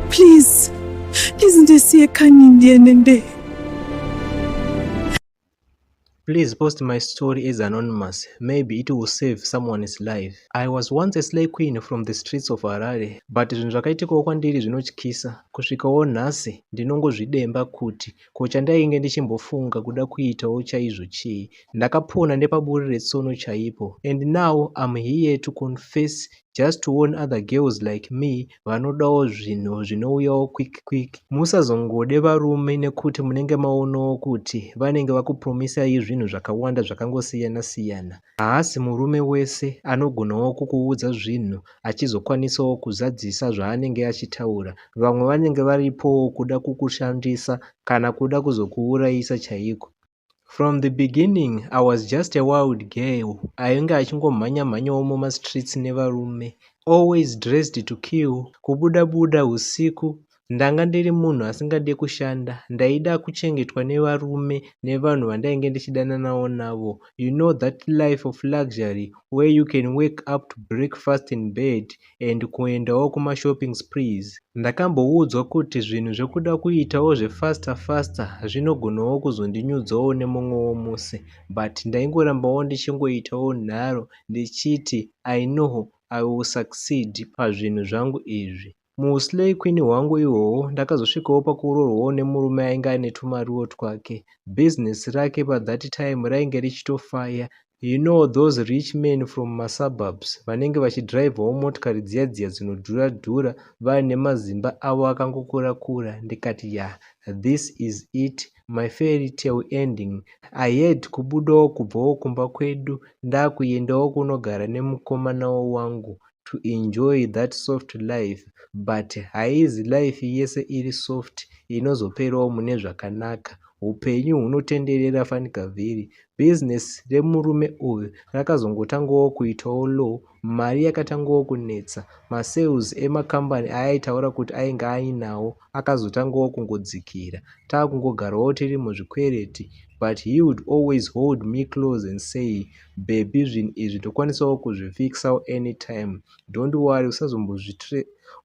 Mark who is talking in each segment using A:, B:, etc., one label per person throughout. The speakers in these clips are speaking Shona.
A: Please, please ndisiye kani ndiye nende.
B: Please post my story as anonymous. Maybe it will save someone's life. I was once a slay queen from the streets of Harare, but zvinhu zvakaitikawo kwandiri zvinotyisa. Kusvikawo nhasi ndinongozvidemba kuti Ko chandainge ndichimbofunga kuda kuitawo chaizvo chii? Ndakapona nepaburi retsono chaipo and now I'm here to confess just to warn other girls like me vanodawo zvinhu zvinouyawo quick quick. Musazongode varume nekuti munenge maonawo kuti vanenge vakupromisai zvinhu zvakawanda zvakangosiyana siyana. Haasi murume wese anogonawo kukuudza zvinhu achizokwanisawo kuzadzisa zvaanenge achitaura. Vamwe vanenge varipowo kuda kukushandisa kana kuda kuzokuurayisa chaiko. From the beginning I was just a wild girl ainge achingomhanya mhanyawo mumastreets nevarume always dressed to kill kubuda buda usiku Ndanga ndiri munhu asingade kushanda, ndaida kuchengetwa nevarume nevanhu vandainge ndichidananawo navo. You know that life of luxury where you can wake up to breakfast in bed and kuendawo kumashopping sprees. Ndakamboudzwa kuti zvinhu zvekuda kuitawo zvefaster faster zvinogonawo kuzondinyudzawo nemumwewo musi but ndaingorambawo ndichingoitawo nharo ndichiti I know I will succeed pazvinhu zvangu izvi. Muslay queen hwangu ihwohwo ndakazosvikawo pakuroorwawo nemurume ainge aine tumariwo twake. Business rake pa that time rainge richitofaya. You know those rich men from ma suburbs vanenge vachidrivawo motikari dziya dziya dzinodhura dhura vaine mazimba avo akangokura kura ndikati yah this is it my fairy tale ending. I had kubudawo kubvawo kumba kwedu ndakuendawo kunogara nemukomanawo wangu to enjoy that soft life but haizi life yese iri soft inozoperawo mune zvakanaka upenyu hunotenderera fanika vhiri business remurume uyu rakazongotangawo kuitawo low mari yakatangawo kunetsa masales emakambani aaitaura kuti ainge ainawo akazotangawo kungodzikira taakungogarawo tiri muzvikwereti but he would always hold me close and say baby zvinhu izvi tokwanisawo kuzvifixawo anytime don't worry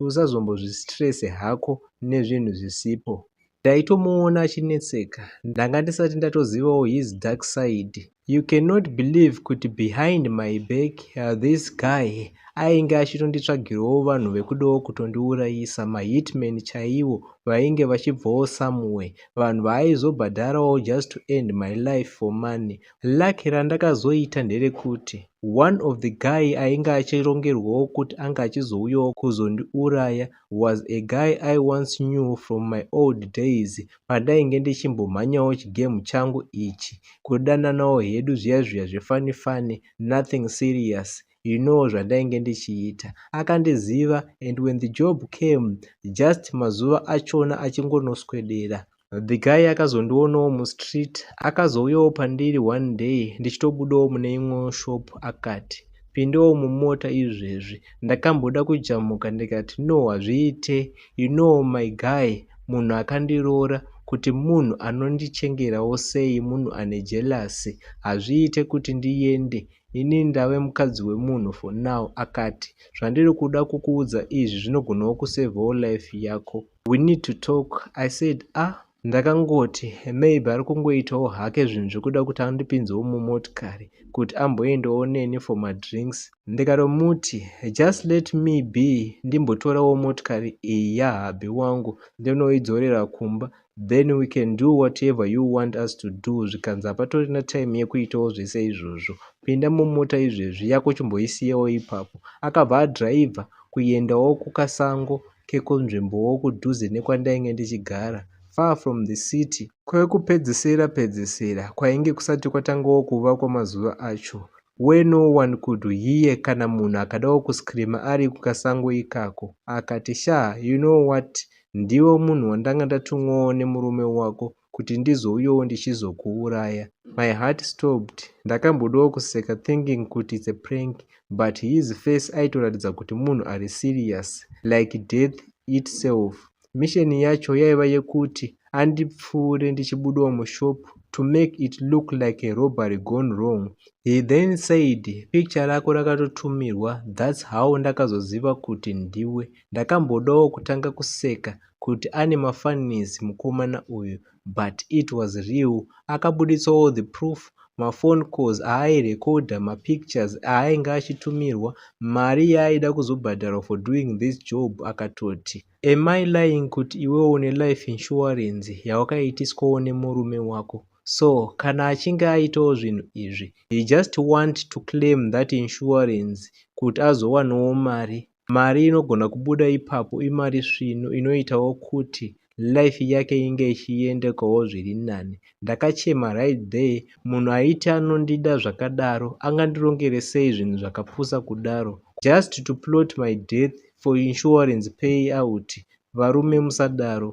B: usazombozvistrese hako nezvinhu zvisipo ndaitomuona achinetseka ndanga ndisati ndatozivawo his dark side you cannot believe kuti behind my back uh, this guy ainge achitonditsvagirawo vanhu vekudawo kutondiurayisa mahitman chaiwo vainge vachibvawo somewhere vanhu vaaizobhadharawo just to end my life for money Luck randakazoita nderekuti one of the guy ainge achirongerwawo kuti anga achizouyawo kuzondiuraya was a guy I once knew from my old days pandainge ndichimbomhanyawo chigame changu ichi kudananawo hedu zviya zviya zvefani fani nothing serious you know zvandainge ndichiita akandiziva and when the job came just mazuva achona achingonoswedera The guy akazondionawo mustreet akazouyawo pandiri one day ndichitobudawo mune imwewo shop akati pindawo mumota izvezvi ndakamboda kujamuka ndikati no hazviite you know my guy munhu akandiroora kuti munhu anondichengerawo sei munhu ane jelasi hazviite kuti ndiyende ini ndave mukadzi wemunhu for now akati zvandiri kuda kukuudza izvi zvinogonawo kusevhawo life yako We need to talk, I said, ah, ndakangoti maybe ari kungoitawo hake zvinhu zvekuda kuti andipinzewo mumotikari kuti amboendawo neni for madrinks ndikatomuti just let me be ndimbotorawo motikari iyi yahabhi wangu ndinoidzorera kumba then we can do whatever you want us to do zvikanzi hapatorina time yekuitawo zvese izvozvo pinda mumota izvezvi yako chimboisiyewo ipapo akabva adriver kuendawo kukasango kekunzvimbowo kudhuze nekwandainge ndichigara, far from the city. Kwekupedzisira pedzisira kwainge kusati kwatangawo kuvakwa mazuva acho, where no one could hear kana munhu akadawo kuscreamer ari kukasango ikako. Akati, Shaa, you know what, ndiwe munhu wandanga ndatumwawo nemurume wako kuti ndizouyawo ndichizokuuraya my heart stopped ndakambodawo kuseka thinking kuti its a prank but his face aitoratidza kuti munhu ari serious like death itself mission yacho yaiva yekuti andipfuure ndichibudawo mushop to make it look like a robbery gone wrong he then said picture rako rakatotumirwa thats how ndakazoziva kuti ndiwe ndakambodawo kutanga kuseka kuti ane mafunnies mukomana uyu but it was real akabuditsa all the proof maphone calls aairekodha mapictures aainge achitumirwa mari yaaida kuzobhadharwa for doing this job akatoti am i lying kuti iwewo une life insurance yawakaitiswawo nemurume wako so kana achinge aitawo zvinhu izvi he just want to claim that insurance kuti azowanawo mari Mari inogona kubuda ipapo imari svinu inoitawo kuti life yake inge ichiendekawo zviri nani. Ndakachema right there munhu aiti anondida zvakadaro angandirongere sei zvinhu zvakapusa kudaro. Just to plot my death for insurance pay out varume musadaro.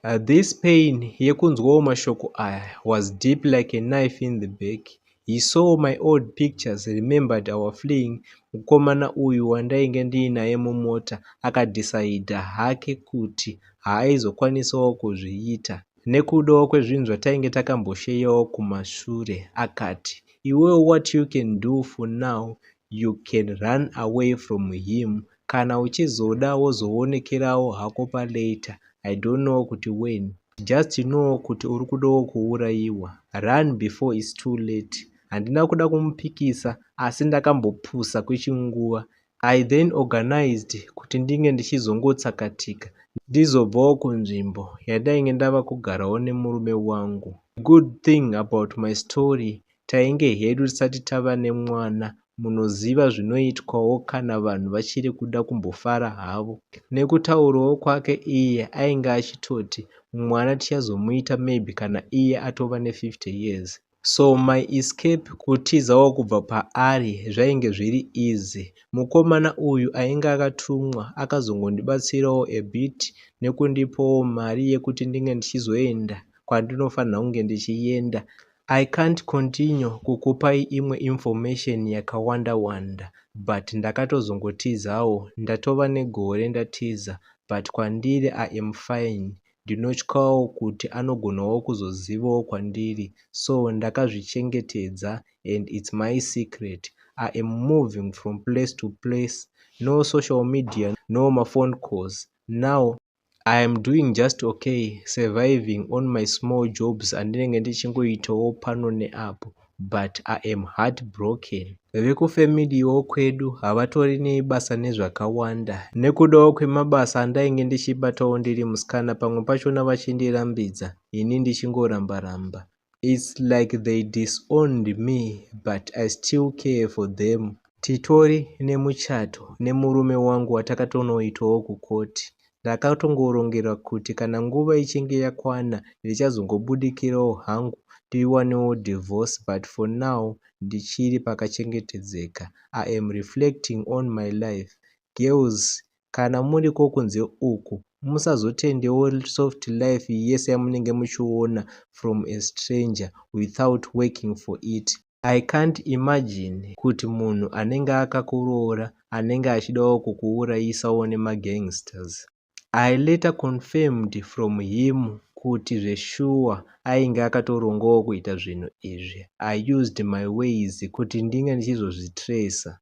B: Uh, this pain yekunzwawo mashoko aya was deep like a knife in the back he saw my old pictures remembered our fleeing mukomana uyu wandainge ndiinaye mumota akadhisaidha hake kuti haaizokwanisawo kuzviita nekudawo kwezvinhu zvatainge takambosheyawo kumashure akati iwewo what you can do for now you can run away from him Kana uchizoda wozoonekerawo hako pa later I don't know kuti when. Just know kuti uri kudawo kuurayiwa. Run before it's too late. Handina kuda kumupikisa asi ndakambopusa kwechinguva. I then organized kuti ndinge ndichizongotsakatika ndizobvawo kunzvimbo yandainge ndava kugarawo nemurume wangu. The good thing about my story Tainge hedu tisati tava nemwana munoziva zvinoitwawo kana vanhu vachiri kuda kumbofara havo. Nekutaurawo kwake iye ainge achitoti mwana tichazomuita maybe kana iye atova ne 50 years. So my escape kutizawo kubva paari zvainge zviri easy. Mukomana uyu ainge akatumwa akazongondibatsirawo a bit nekundipawo mari yekuti ndinge ndichizoenda kwandinofanirwa kunge ndichienda I can't continue kukupai imwe information yakawanda wanda but ndakatozongotizawo ndatova negore ndatiza but kwandiri I am fine ndinotyawo kuti anogonawo kuzozivawo kwandiri so ndakazvichengetedza and it's my secret I am moving from place to place no social media no maphone calls now I am doing just okay surviving on my small jobs andinenge ndichingoitawo pano neapo but I am heartbroken. Vekufemiliwo kwedu havatori nebasa nezvakawanda nekudawo kwemabasa andainge ndichibatawo ndiri musikana pamwe pachona vachindirambidza ini ndichingorambaramba. It's like they disowned me but I still care for them. Titori nemuchato nemurume wangu watakatonoitawo kukoti. Ndakatongorongerwa kuti kana nguva ichinge yakwana ndichazongobudikirawo hangu tiwanewo divorce but for now ndichiri pakachengetedzeka. I am reflecting on my life. Girls kana muriko kunze uku musazotendewo soft life yese yamunenge muchiona from a stranger without working for it I can't imagine kuti munhu anenge akakuroora anenge achidawo kukuurayisawo nemagangsters. I later confirmed from him kuti zveshuwa ainge akatorongawo kuita zvinhu izvi. I used my ways kuti ndinge ndichizozvitracer.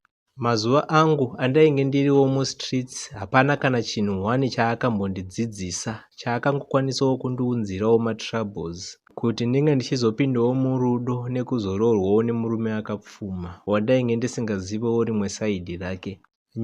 B: Mazuva angu andainge ndiriwo mustreets hapana kana chinhu one chaakambondidzidzisa chaakangokwanisawo kundiunzirawo matroubles kuti ndinge ndichizopindawo murudo nekuzoroorwawo nemurume akapfuma wandainge ndisingazivewo rimwe saidi rake.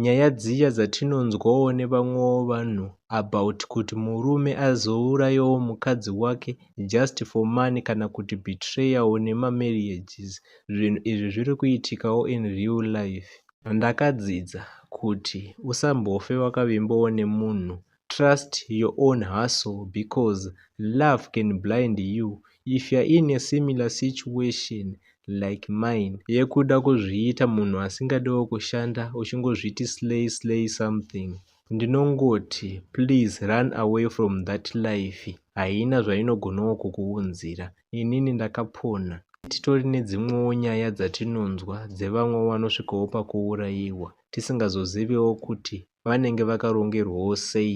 B: Nyaya dziya dzatinonzwawo nevamwewo vanhu about kuti murume azourayawo mukadzi wake just for money kana kuti betrayawo nemamarriages zvinhu izvi zviri kuitikawo in real life. Ndakadzidza kuti usambofe wakavimbawo nemunhu trust your own hustle because love can blind you if you're in a similar situation like mine yekuda kuzviita munhu asingadiwo kushanda uchingozviti slay slay something ndinongoti please run away from that life haina zvainogonawo kukuunzira inini ndakapona titori nedzimwewo nyaya dzatinonzwa dzevamwe vanosvikawo pakuurayiwa tisingazozivewo kuti vanenge vakarongerwawo sei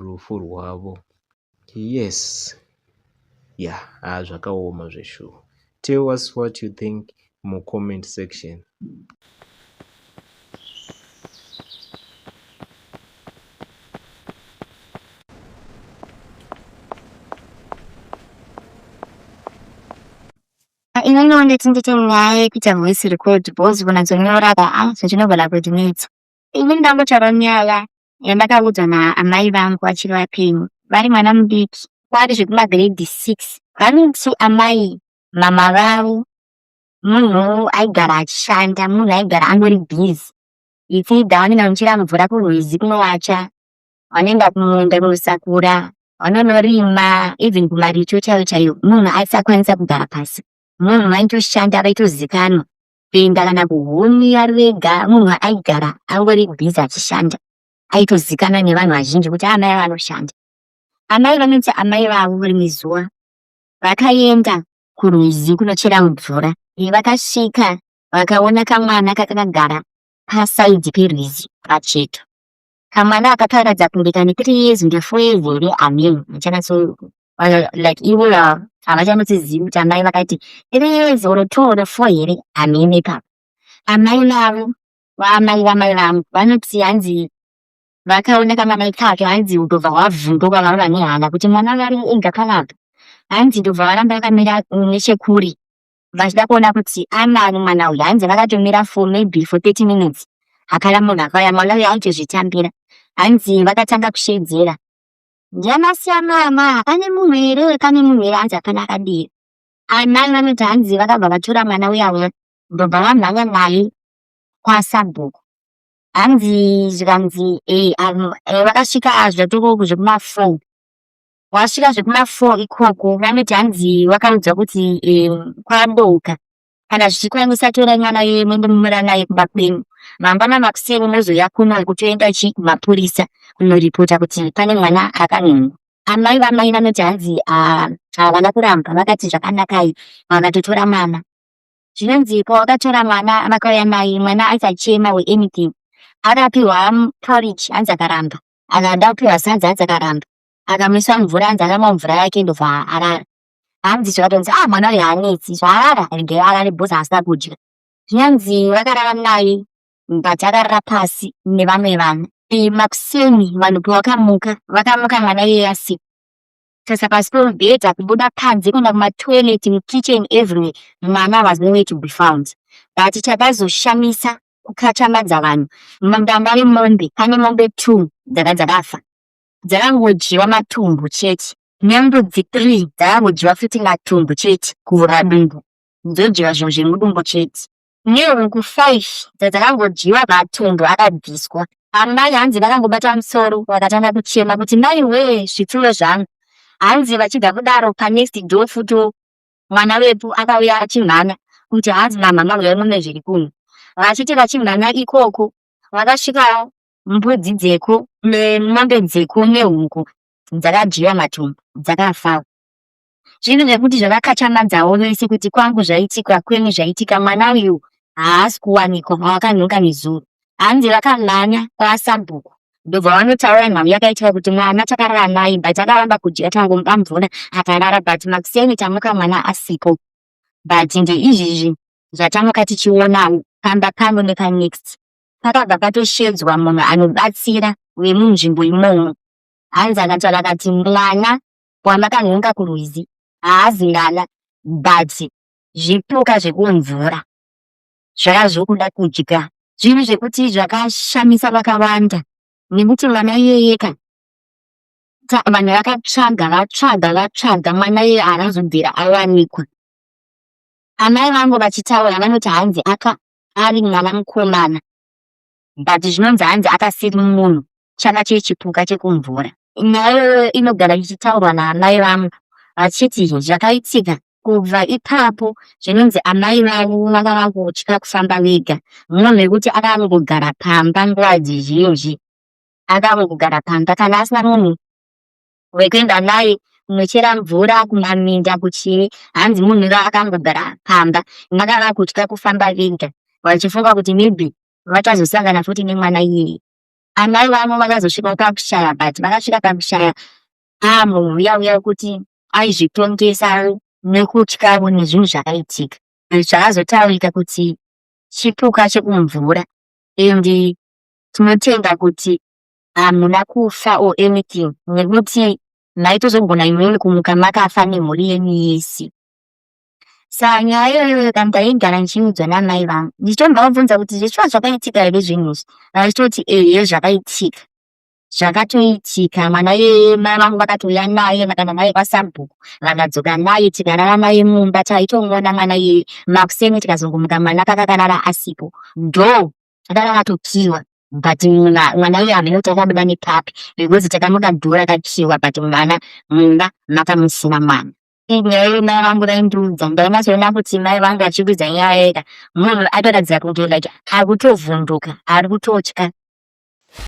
B: rufu rwavo yes yeah haa ah, zvakaoma zveshuwa tell us what you think mucomment section
C: inenge wanditi ndite nyaya yekuita voice record bos kunatsonyora ka a ah, zvichinogona kundinetsa ini ndambotaura nyaya yandakaudzwa naamai vangu vachiri vapenyu vari mwana mudiki kwari zvekumagrade six vanoti amai mama vavo munhu aigara achishanda munhu aigara angori busy it's either vanenge vanochera mvura kurwizi kunowacha vanoenda kumunda kunosakura vanonorima even kumaricho chaiyo chaiyo munhu aisakwanisa kugara pasi munhu vaitoshanda vaitozikanwa kuenda kana kuhuni ari vega munhu aigara angori busy achishanda aitozikanwa nevanhu vazhinji kuti amai vanoshanda amai vanoti amai vavo rimwe zuva vakaenda kurwizi kunochera mvura vakasvika vakaona kamwana kakagara pasaidhi perwizi pacheto kamwana aka karatidza kunge kane three years kunge four years here amim muchanatso like ivo havachanotizivi kuti amai vakati three years or two or four here amim ipapo amai vavo vaamai vamai vangu vanoti hanzi vakaona kamwana ikako hanzi ndobva hwavhunduka vava vane hana kuti mwana vari inga kanaka hanzi ndobva varamba vakamira nechekure vachida kuona kuti anani mwana uyu hanzi vakatomira for maybe for 30 minutes hapana munhu akauya mwana uyu aitozvitambira hanzi vakatanga kushedzera ndianasiya mama pane munhu here uye pane munhu here hanzi hapana akadira amai vanoti hanzi vakabva vatora mwana uya uya ndobva vamhanya naye kwasabhuku hanzi zvikanzi eh, um, eh, vakasvika ah, zvatoko zvekumafour wasvika zvekuma four ikoko vanoti hanzi vakamudzwa kuti um, kwadoka kana zvichikwanisa torai mwana yeye mwende mumira naye kumba kwenyu mangwana makuseni mozoya kuno kutoenda chii kumapurisa kunoripota kuti pane mwana akanungu amai vamai vanoti hanzi ah, havana kuramba vakati zvakanakai vakatotora mwana zvinonzi pawakatora mwana vakauya naye mwana aisachema we anything akapiwa porridge hanzi akaramba akada kupiwa sadza hanzi akaramba akamisa mvura anzi akamwa mvura yake ndobva arara hanzi zvikatonzi ah mwana uyu haanetsi zvaarara regei arare bhozi haasina kudya zvinyanzi vakarara naye but akarara pasi nevamwe vanhu makuseni vanhu pavakamuka vakamuka mwana iye asika sasa pasi pemubhedha kubuda panze kuenda kumatoilet mukitchen everywhere mwana was no way to be found but chakazoshamisa kukachamadza vanhu mudanga remombe pane mombe two dzanga dzakafa dzakangodyiwa matumbu chete nembudzi three dzakangodyiwa futi matumbu chete kuvhura dumbu dzodyiwa zvinhu zvemudumbu chete nehuku five dzadzakangodyiwa matumbu akabviswa amai hanzi vakangobata musoro vakatanga kuchema kuti mai wee zvitsulo zvangu hanzi vachibva kudaro panext door futo mwana wepo akauya achimhanya kuti hanzi mamhama huyai mune zviri kuno vachiti vachimhanya ikoko vakasvikawo mbudzi dzeku mombe dzeku nehuku dzakadyiwa matumbu dzakafawo zvinhu zvekuti zvavakachamadzawo vese kuti kwangu zvaitika kwenyu zvaitika mwana uyu haasi kuwanikwa mawakanhuka nezuro hanzi vakamhanya kwasabhuku ndobva vanotaura nhau yakaitika kuti mwana takarara naye but akaramba kudya tangomupa mvura akarara but makuseni tamuka mwana asipo but ndeizvizvi zvatamuka tichionawo pamba pano nepanext pakabva patoshedzwa munhu anobatsira vemunzvimbo imomo hanzi akataura akati mwana wamakanhonga kurwizi haazi ngana but zvipuka zvekumvura zvaka zvokuda kudya zvinhu zvekuti zvakashamisa vakawanda nekuti mwana iyeyeka vanhu vakatsvaga vatsvaga vatsvaga mwana iye haazobvira awanikwa amai vangu vachitaura vanoti hanzi aka ari mwana mukomana but zvinonzi hanzi akasiri munhu chana chee chipuka chekumvura nhayoyo inogara ichitaurwa naamai vangu vachiti zvakaitika kubva ipapo zvinonzi amai vavo vanga vangotya kufamba vega munhu mekuti akangogara pamba nguva dzizhinji akangogara pamba kana asina munhu wekuenda naye kunochera mvura kumaminda kuchii hanzi munhu ra akangogara pamba maka vakutya kufamba vega vachifunga kuti maybe vachazosangana futi nemwana iyeye amai vavo vakazosvika pakushaya but vakasvika pakushaya amunhu uya uya kuti aizvitongesa nekutyavo nezvinhu zvakaitika zvakazotaurika kuti chipuka chekumvura and tinotenda kuti hamuna kufa or anything nekuti maitozogona imweni kumuka makafa nemhuri yenyu yese saka nyaya iyoyoyo ka ndaigara ndichiudzwa namai vangu ndichitombavabvunza kuti zvichiva zvakaitika here zvinhu izvi vachitoti ehe zvakaitika zvakatoitika mwana yeye mai vangu vakatouya naye vakaenda naye kwasabhuku vakadzoka naye tikarara naye mumba taitomuona mwana yeye makuseni tikazongomuka mwana kakakarara asipo ndo akanga atokiwa but mwana uyu hameno kuti akabuda nepapi because takamuda dhura akakiwa but mwana mumba makamusina mwana nyaya iyo mai vangu vaindiudza ndainatsoona kuti mai vangu vachiudza nyaya yeka munhu atoratidza kunge like ari kutovhunduka ari kutotya